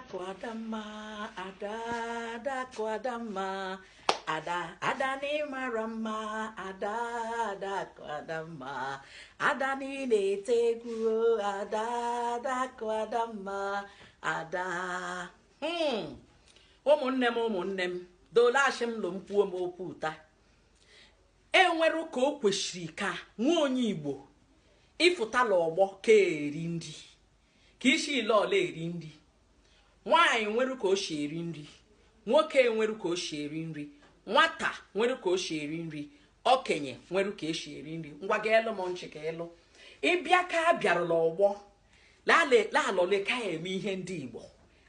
Adakụ Adamma, Ada, Adakụ Adamma, Ada, Ada na ị mara mma, Ada, Adakụ Adamma, Ada na ị na-ete egwu, Ada, Adakụ Adamma, Ada. Hmm. Ụmụnne m ụmụnne m, dolachi m lụ m kwuo m okwu taa. E nwere ka o kwesịrị ka nwa onye Igbo ị fụta la ọgbọ ka eri nri. ka isi ile ọla eri nri nwaanyị nwere ka o si eri nri nwoke nwere ka o si eri nri nwata nwere ka o si eri nri okenye nwere ka e si eri nri ngwa gaalụ m nchị ka ị lụ ị bịa ka a bịaru la ọgbọ lalọle ka eme ihe ndị igbo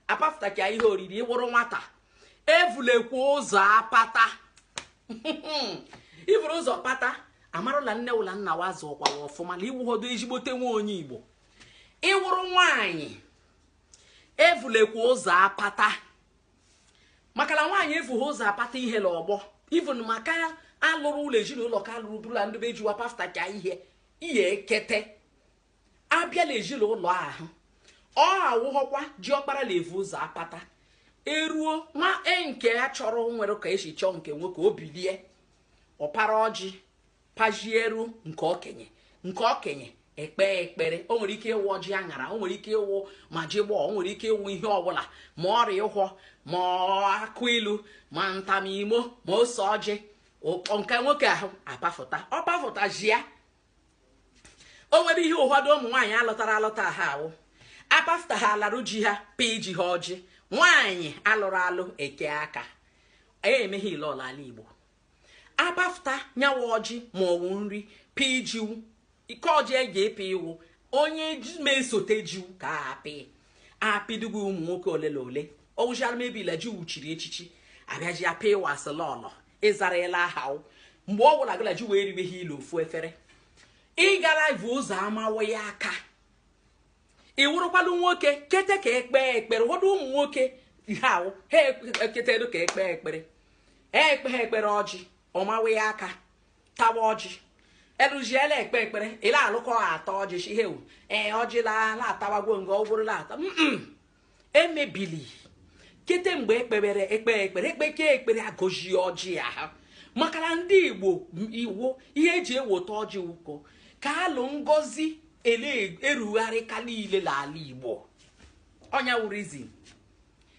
apafụtaka ihe oriri ị wụrụ nwata evulekwa ụzọ apata i vuru ụzọ pata a marụ la nne ụ la nna ụ azụọkwa ọfụma na ị wụhọdo ezigbote nwa onye igbo ị wụrụ nwaanyị evulekwa ụzọ apata maka na nwaanyị evughị ụzọ apata ihe la ọgbọ even maka alụrụ la ezinụlọ ka alụrụ bụrụ la ndị be ji wa pafụtaka ihe ihe ekete abịa la ezinụlọ ahụ ọ awụghọkwa ji ọkpara la-evu ụzọ apata eruo nwa nke a chọrọ nwere ka e si chọọ nke nwoke o bilie ọ para ọjị pajieru nke okenye nke okenye ekpe ekpere o nwere ike ịwụ ọjị aṅara o nwere ike ịwụ ma ọjị igbo o nwere ike ịwụ ihe ọbụla ma ọrịa ụhwọ ma akụ ilu ma ntamimo ma ose ọjị nke nwoke ahụ apafụta ọ pafụta ji ya o nwere ihe ụfọdụ ụmụ nwaanyị a lụtara alụta ha awụ apafụta ha alarụ ji ha pa ji ha ọjị nwaanyị alụrụ alụ eke aka emeghe ile ọla ala igbo apafụta nyawa ọjị ma ọ wụ nri pịị ji wụ ike ọjị eji ịpị iwu onye ma-esote ji wụ ka a apị apịdugo ụmụ nwoke ole na ole ọwụchara mebi la ji wụ chiri echichi abịaji apị wasilọlọ ịzara ele aha mgbe ọ wụla gị la ji wụ eribe ihe ile ofu efere ị gala evu ụzọ amawa ya aka ị wụrụkwalụ nwoke kete ka ekpee ekpere ụfọdụ ụmụ nwoke ihe ahụ ha eketedo ka ekpee ekpere ekpe ha ekpere ọjị ọ mawa ya aka tawa ọjị eluziela ekpe ekpere ị la-alụ ka ha ata ọjị shị hewu ee ọjị la atawago nga ọ bụrụ la ata emebili kete mgbe ekpebere ekpe ekpere ekpeke ekpere agọji ọjị ya ha maka na ndị igbo iwu ihe eji eweta ọjị ụkọ ka alụ ngozi erugharịka niile n'ala igbo ọ nya wụ reason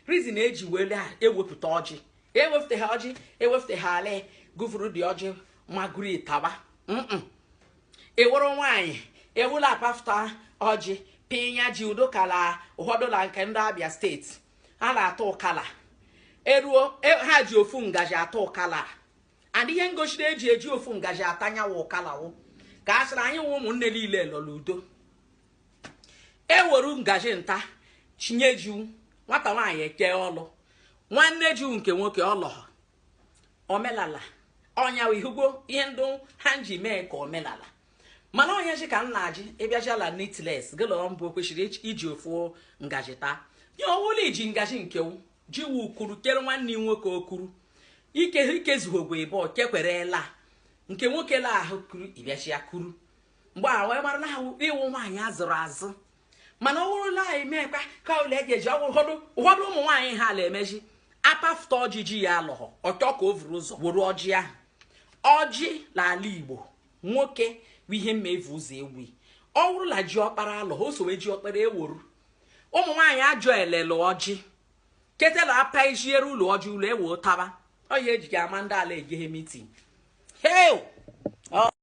reason eji were ewepụta ọjị ewepụta ha ọjị ewepụta ha ala gụ vuru dị ọjị maguru tawa ewuru nwaanyị ewula apafụta ọjị pinya ji udo kala ụfọdụ na nke ndị abịa steeti a na-ata ụkala eruo e- ha ji ofu ngaji ata ụkala and ihe ngosi na eji eji ofu ngaji atanyawa ụkala wụ ka a sịrị anyị wụ ụmụnne niile lọ la udo eweru ngaji nta chinye jiwu nwata nwaanyị eke ọlụ nwanne jiwu nke nwoke ọlọhọ omelala ọnya ị hụgwo ihe ndị ha ji mee ka omelala mana onye ji ka nna ji ịbịaji ala neatness gịlọọ mbụ kwesịrị iji ofu ngaji taa onye ọwụla iji ngaji nkewu ji wu kuru kere nwanne nwoke okuru ike ikezughogwe ịbụ kekwerela nke nwoke la ahụ kuru ịbịaji ya kuru mgbe a wee mara na ha ị wụ nwaanyị a zụrụ azụ mana ọ wụrụ la anyị meekwa ka ụlọ eji ụfọdụ ụmụ nwaanyị ha ala emeji apafụta ọjị ya alọghọ ọ chọ ka o vuru ụzọ wuru ọjị ahụ ọjị n'ala igbo nwoke bụ ihe mma evu ụzọ ewu ọ wụrụ la ji ọkpara alọ o sowe ji ọkpara ewuru ụmụ nwaanyị ajọ elele ọjị ketela apa ejiere ụlọ ọjị ụlọ ewe ụtaba ọ ya ejighị ama ndị ala egeghe mitin heo